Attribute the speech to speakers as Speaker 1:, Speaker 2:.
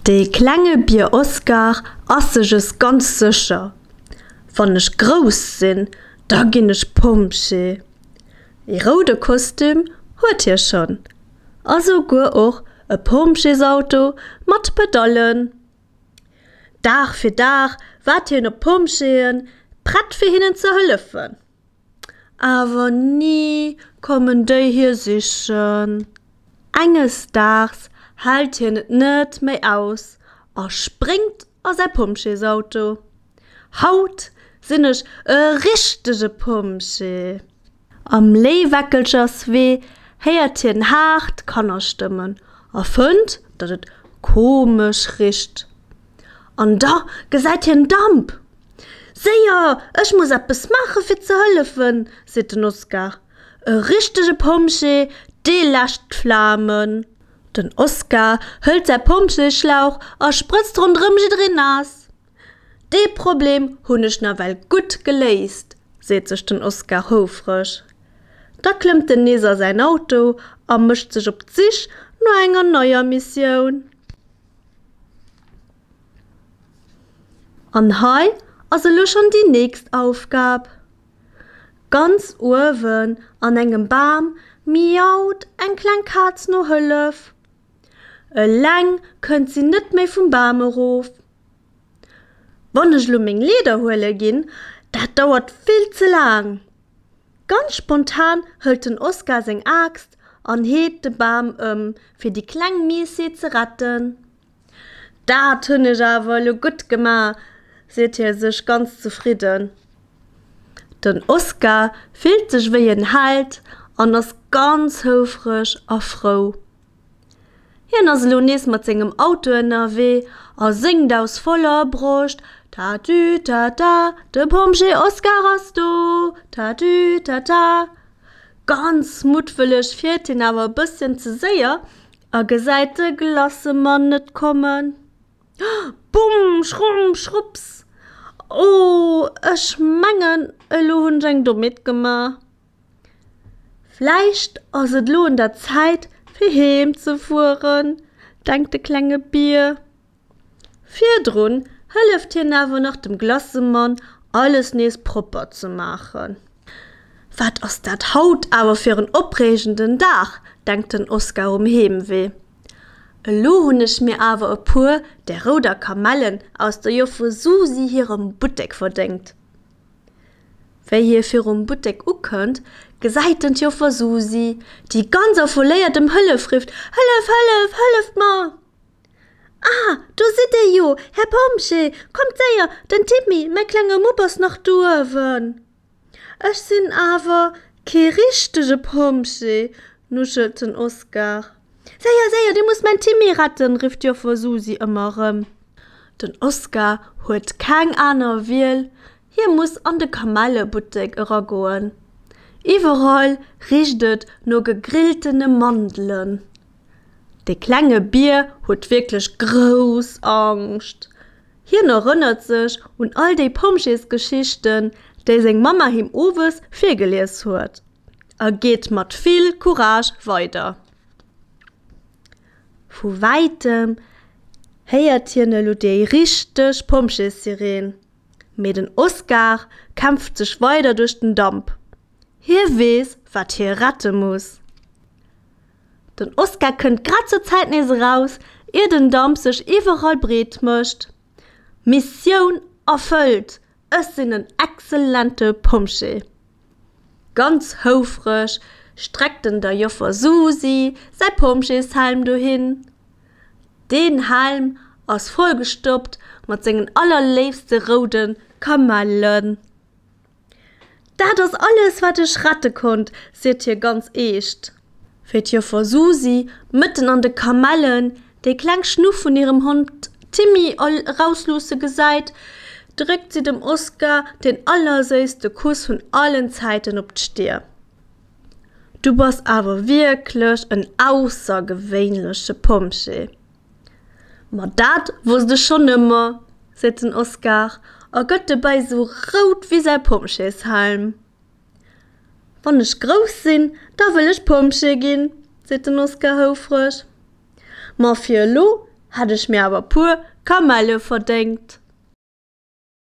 Speaker 1: Dee klenge Bier Oskar ass sech es ganz sécher, Wann ech grouss sinn, da ginn ech Pompjee. Ee roude Kostüm huet hie schonn a souguer och e Pompjeesauto mat Pedallen. Dag fir Dag waart hien op d'Pompjeeën, prett fir hinnen ze hëllefen. Awer ni kommen déi hie sichen. Enges Daags hält hien et net méi aus a spréngt a säi Pompjeesauto. Haut sinn ech e richtege Pompjee! Am Léiweckelcherswee héiert hien haart Kannerstëmmen a fënnt, datt et komesch richt. An da gesäit hien Damp! Séier, ech muss eppes maache fir ze hëllefen, seet den Oskar. E richtege Pompjee, dee läscht d'Flamen. Den Oskar hëlt säi Pompjeeschlauch a sprëtzt ronderëm jiddereen naass. Dee Problem hunn ech nawell gutt geléist, seet sech den Oskar houfreg. Da klëmmt en nees a säin Auto a mécht sech op d'Sich no enger neier Missioun. An hei ass elo schonn déi nächst Aufgab. Ganz uewen an engem Bam miaut eng kleng Kaz no Hëllef. Eleng kënnt si net méi vum Bam erof. Wann ech elo meng Leeder huele ginn, dat dauert vill ze laang. Ganz spontan hëlt den Oskar seng Aaxt an heet de Bam ëm, fir déi kleng Miessi ze retten. Dat hunn ech awer elo gutt gemaach, seet hie sech ganz zefridden. Den Oskar fillt sech wéi en Held an ass ganz houfreg a frou. Hien ass elo nees mat sengem Auto ënnerwee a séngt aus voller Broscht, Tatütata, de Pompjee Oskar ass do, tatütata. Ganz muttwëlleg fiert hien awer e bësschen ze séier. A gesäit de Glassemann net kommen, Bumm! Schrumm! Schrupps! Oh, ech mengen, elo hunn ech eng Dommheet gemaach. Vläicht ass et elo un der Zäit, fir heem ze fueren, denkt de klenge Bier. Virdrun hëlleft hien awer nach dem Glassemann alles nees propper ze maachen. Wat ass dat haut awer fir en opreegenden Dag, denkt den Oskar um Heemwee. Elo hunn ech mir awer e puer där rouder Kamellen aus der Joffe Susi hirem Buttek verdéngt. Wéi hie virum Buttek ukënnt, gesäit en d'Joffer Susi, déi ganz affoléiert ëm Hëllef rifft, Hëllef, hëllef, hëlleft mer! Ah, do sidd Dir jo, Här Pompjee! Kommt séier, den Timmy, mäi klenge Mupp, ass nach do uewen. Ech sinn awer kee richtege Pompjee, nuschelt den Oskar. Séier, séier, Dir musst mäin Timmy retten! rifft d'Joffer Susi ëmmer erëm. Den Oskar huet keng aner Wiel, Hie muss an de Kamellebuttek eragoen. Iwwerall richt et no gegrilltene Mandelen. De klenge Bier huet wierklech grouss Angscht. Hien erënnert sech un all déi Pompjeesgeschichten, déi seng Mamma him owes virgelies huet, a geet mat vill Courage weider. Vu wäitem héiert hien elo déi richteg Pompjeessireen. Mee den Oscar kämpft sech weider duerch den Damp. Hie weess, wat hie rette muss. Den Oscar kënnt grad zur Zäit nees eraus, ier den Damp sech iwwerall breet mécht. Missioun erfëllt, ech sinn en exzellente Pompjee! Ganz houfreg streckt en der Joffer Susi säi Pompjeeshelm dohin. Deen Helm ass vollgestoppt mat sengen allerléifste roude Kamellen. Dat ass alles, wat ech rette konnt, seet hie ganz eescht. Fir d'Joffer Susi, mëtten an de Kamellen, déi kleng Schnuff vun hirem Hond Timmy erausluusse gesäit, dréckt si dem Oskar deen allerséisste Kuss vun allen Zäiten op d'Stir. Du bass awer wierklech en aussergewéinleche Pompjee. Ma dat wosst ech schonn ëmmer, seet den Oskar a gëtt dobäi esou rout wéi säi Pompjeeshelm. Wann ech grouss sinn, da wëll ech Pompjee ginn, seet den Oskar houfreg. Ma fir elo hätt ech mir awer e puer Kamelle verdéngt.